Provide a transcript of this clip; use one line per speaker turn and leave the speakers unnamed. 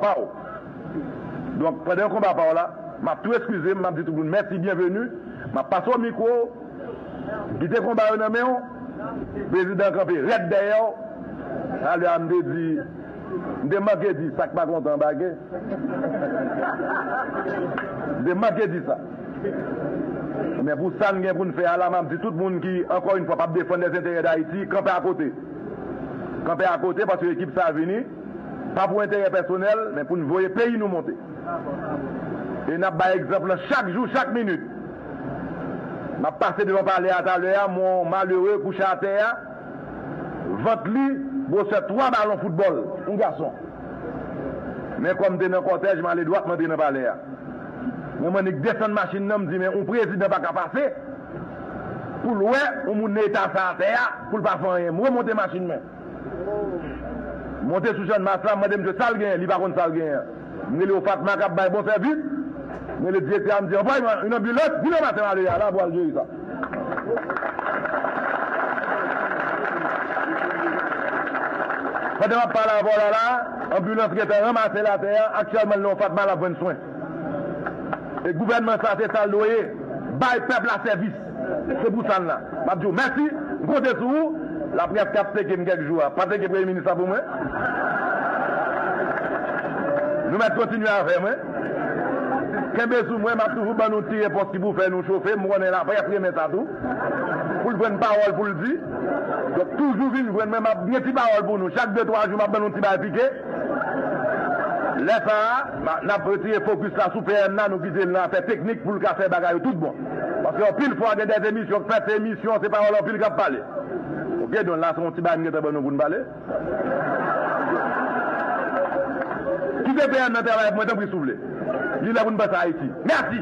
Pa w. Donk, pandan yon konba pa w la, m ap tou eskize m, m ap di tout moun mèsi byenveni, m ap pase w mikwo, kite konba yo nan men w, prezidan an kanpe rèd dèyè w. Talè a m te di, m te manke di sa k pa kontan anbake. M te manke di sa. Men pou sa n gen pou n fè a la, m ap di tout moun ki, ankò yon fwa, p ap defann lèzenterè Dayiti, kanpe akote. Kanpe akote paske ekip sa a vini. Pa pou enterè pèsonèl, men pou n voye peyi nou monte. E n ap bay egzanp lan chak jou, chak minit. M ap pase devan palè a talè a, m wè yon malere kouche atè a, vant li gwosè twa balon foutbòl, yon gason. Men kòm m te nan kòtèj, m ale dwat m antre nan palè a. Mwen mande k desann machin nan, m di men yon prezidan pa ka pase pou l wè yon moun nan eta sa atè a, pou l pa fè anyen. M remonte machin mwen. Monte sou channmas la, m mande msye sa l genyen, li pa konn sa l genyen an. M rele yo Fatma k ap bay bon sèvis. M rele direktè a, m di anvwaye mwen yon anbilans, di Loma se m ale ya la pou al jere sa. Pandan m ap pale avè w la la a, anbilans gentan ranmase l atè a, aktyèlman l nan yon Fatma l ap jwenn swen. E gouvènman sa se sa l dwe ye, bay pèp la sèvis. Se pou sa la, m ap di w mèsi, m konte sou ou. Laprès k ap seke m kèk jou a pa seke Premye Minis la pou mwen. Nou mèt kontinye avè mwen. Kenbe sou mwen, m ap toujou ban nou ti repons ki pou fè nou chofe. M konnen laprès renmen sa tou, pou l jwenn pawòl pou l di. Donk toujou vin jwenn mwen, m ap gen ti pawòl pou nou. Chak de twa jou, m ap ban nou ti bagay pike. Lè sa a, n ap retire fokis la sou PM nan, nou kite l nan afè teknik pou l ka fè bagay yo tout bon. Paske anpil fwa gen des emisyon k fèt se emisyon se pawòl anpil kap pale ok don la se yon ti bagay m gentan ban nou poun pale ki te PM nan travay ak mwen tanpri si w vle li lè poun panse Ayiti mèsi.